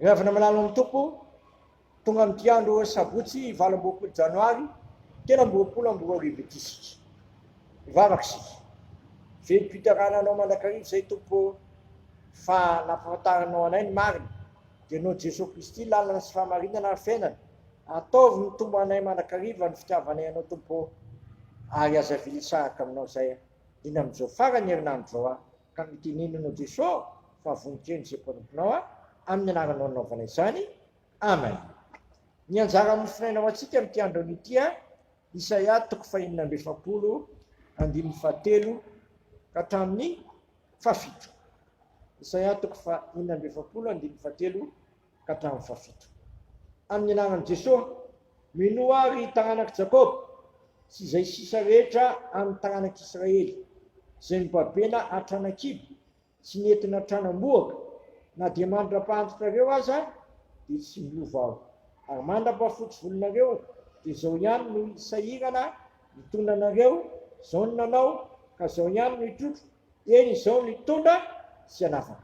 Miavona malalo amin'ny Tompo, tonga amin'ity andro sabotsy valo amby roapolo janoary telo amby roapolo amby roa arivo ity isika. Mivavaka isika. Velom-piterahana anao mandrakariva izay Tompo fa nampahafantarinao anay ny marina. Dia noho Jesoa Kristy lalana sy fahamarinana ary fiainana, ataovy mitombo anay mandrakariva ny fitiavanay anao Tompo ô. Ary aza avily hisaraka aminao izay liana amin'izao faran'ny herinandro izao aho. Ka mitenenenao Jeso fa vonintreno izay mpanomponao a amin'ny anaranao nanaovana izany Amen Ny anjara mofonaina ho antsika amin'ity andron'ny ity a Isaia toko fahenina amby efapolo andininy fahatelo ka hatramin'ny fahafito Isaia toko fahenina amby efapolo andininy fahatelo ka hatramin'ny fahafito. Amin'ny anaran'i Jesoa, minoa aho ry taranak'i Jakoba sy izay sisa rehetra amin'ny taranak'i Israely izay nobabena hatrany an-kibo sy nentina hatrany am-bohoka, na dia mandra-pahantontrareo aza dia tsy miova aho, ary mandra-pahafotsy volonareo dia izao ihany no hisahirana hitondra anareo, izao no nanao ka izao ihany no hitrotro, eny izao no hitondra sy hanafaka.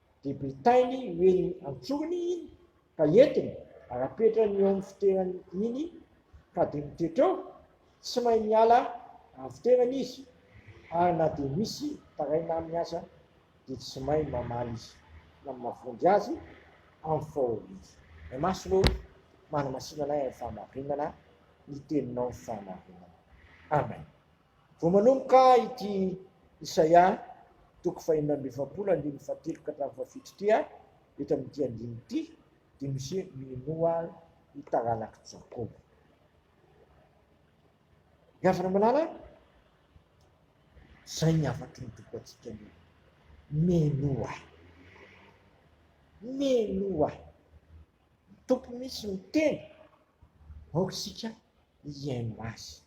dia bitainy ho eny an-tsorony iny ka entiny ary apetrany eo amin'ny fitoerany iny ka dia mitoetra eo, tsy mahay miala amin'ny fitoerany izy ary na dia misy taraina aminy aza dia tsy mahay mamaly izy na mavonjy azy amin'ny fahoriany. Ny maso no manamasinana ahy amin'ny fahamarinana, ny teninao ny fahamarinana. Amen. Vao manomboka ity Isaia toko fahefatra amby efapolo andininy fahatelo ka hatramin'ny fahafito ity aho, eto amin'ity andininy ity, dia misy hoe minoa aho ny taranak'i Jakoba. Ny havana malala, izay ny hafatry ny toko antsika ny minoa ahy. Minoa ahy. Ny tompo misy miteny, aoka isika hihaino azy.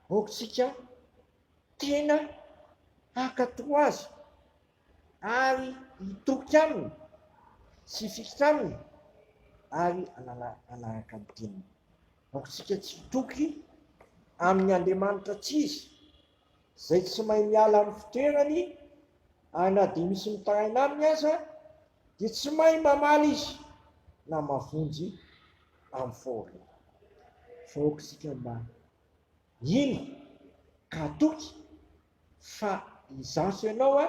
aokantsika tena hankatò Azy ary hitoky Aminy sy hifikitra Aminy ary hanaraka ny Teniny. Aokantsika tsy hitoky amin'ny andriamanitra tsy izy, izay tsy mahay miala amin'ny fitoerany ary na dia misy mitaraina aminy aza dia tsy mahay mamaly izy na mavonjy. amin'ny fahoriana. Vahoaka isika ambany. Ino ka toky fa izaho sy ianao a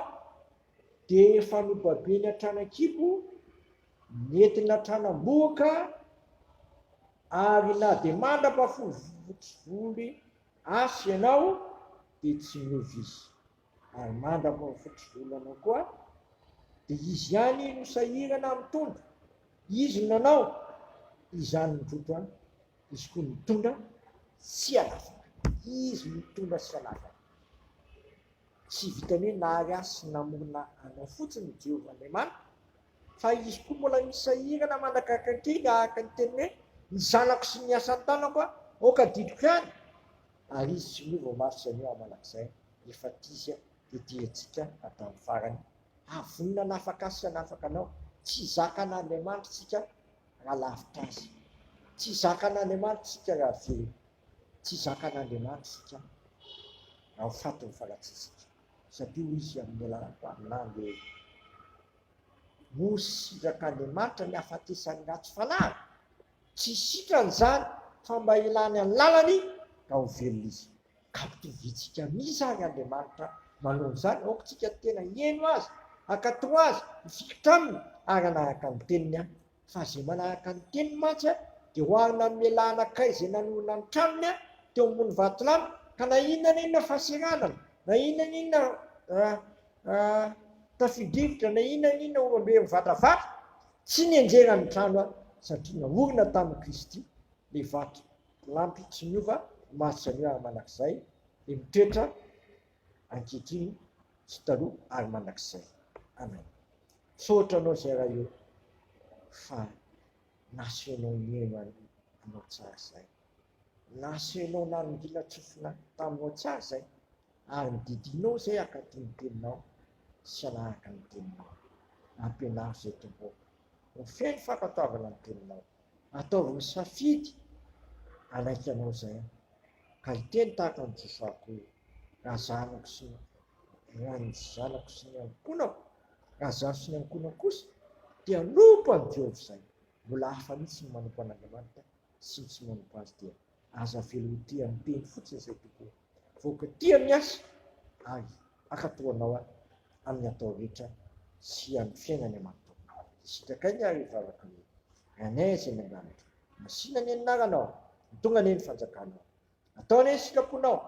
dia efa nobabeny hatrany an-kibo, nentina hatrany am-bohoka ary na dia mandrapa-folo voly aza ianao dia tsy niova izy. Ary manda moa ny fototry volana koa dia izy ihany no sahirana amin'ny tondro, izy no nanao izany ny tondro an, izy koa nitondra tsy hanafaka, izy nitondra tsy hanafaka. Tsy vitan'ny hoe nahary ahy sy namorona anao fotsiny i Jehovah Andriamaniko Fa izy koa mbola misy sahirana manakaiky ankiga araka ny teniny hoe, ny zanako sy ny asan'ny tanako a! aoka adidiko ihany! Ary izy tsy miova mafy tsy anio hamanak'izay efa t'izy a! dia diantsika hatramin'ny farany havonona hanafaka azy sy hanafaka anao! tsy zakan'Andriamanitra tsika raha lavitra azy! tsy zakan'Andriamanitra tsika raha velona! tsy zakan'Andriamanitra tsika raha ho faty ny fanatsitsika! satria hoy izy amin'ny alalako amin'andro eo Moa sitrak'Andriamanitra ny hahafatesan'ny ratsy fanahy? Tsy sitrany izany, fa mba hilany ny lalany ka ho velona izy. Ka ampitovitsika amin' izany Andriamanitra manao izany aoka tsika tena hieno Azy, hankatò Azy, hifikitra Aminy ary hanaraka ny Teniny Fa izay manahaka ny teniny mantsy dia ho avy nanome lahan'akay izay nanorina ny tranony teo ambony vatolampy, ka na inona na inona fahaseranana, na inona na inona tafio-drivotra, na inona na inona oram-be mivatravatra, tsy nenjehina ny trano, satria naorina tamin'i Kristy ilay vatolampy tsy miova, maty sy anio ary mandrakizay, dia mitoetra ankehitriny sy taloha ary mandrakizay. Amen. Misaotra anao zay raha io fa nasehonao nihaino an'i anao tsara zay. Nasehonao narongila tsofina taminao tsara zay ary nididinao zay akaty ny teninao sy hanaraka ny teninao. Ampianaro zay Tompo ô. Ho feno fankatoavana ny teninao. Ataovy safidy hanaiky anao zay ka hiteny tahaka ny Josoa koa hoe, Raha zanako sy ny raha ny zanako sy ny ankonako, raha zaho sy ny ankonako kosa te hanompo an'i Jehovah izay, mbola hafa mihitsy ny manompo an'Andriamanitra sy ny tsy manompo azy dia Aza avela ho tia ny teny fotsiny izay tokoa fa oka tia ny asa ary hakato anao aho amin'ny atao rehetra sy amin'ny fiainany aman'tao izay sitraka ainy ary vavaka hoe Ranay izay any an-danitra masina anie ny naranao mitongany anie ny fanjakanao atao anie ny sikaponao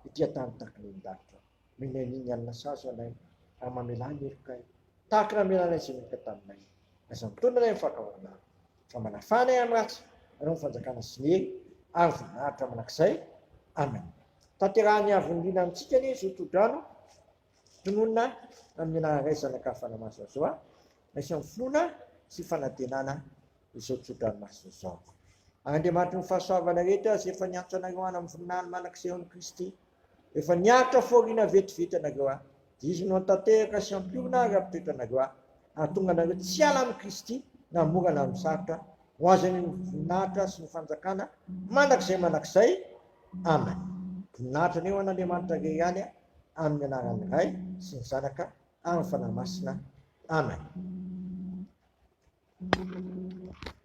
ety an-tany takin'ny ny danitra Mila an'iny alina sazy ianay raha mamelà ny helokay, tahaka ny namelanay izay heloka taminay. Aza mitony ianay amin'ny fankahalana, fa manafà anay amin'ny ratsy, hanao ny fanjakana sy ny hery ary voninahitra mandrakizay. Amena. Tanterahan'ny Havon'Liana amintsika anie izao tohodrano tononina amin'ny anaran'ny Ray, Zanaka ary Fanahy Masina izao a! Raisina amin'ny finoana sy fanantenana izao tsodrano masina izao. Ary Andriamanitry ny fahasoavana rehetra izay efa niantso anareo hanam-voninahiny mandrakizay ao amin'i Kristy. Efa niaritra fahoriana vetivety ianareo aho, dia Izy no hantanteraka sy hampiorina ary hampitratra anareo aho, hahatonga anareo tsy hiala amin'i Kristy na mora na misarotra, ho azany ny voninahitra sy ny fanjakana mandrakizay mandrakizay. Amen. Voninahitra anie ho an'Andriamanitra irery ihany, amin'ny anaran'ny Ray sy ny Zanaka ary ny Fanahy Masina. Amen.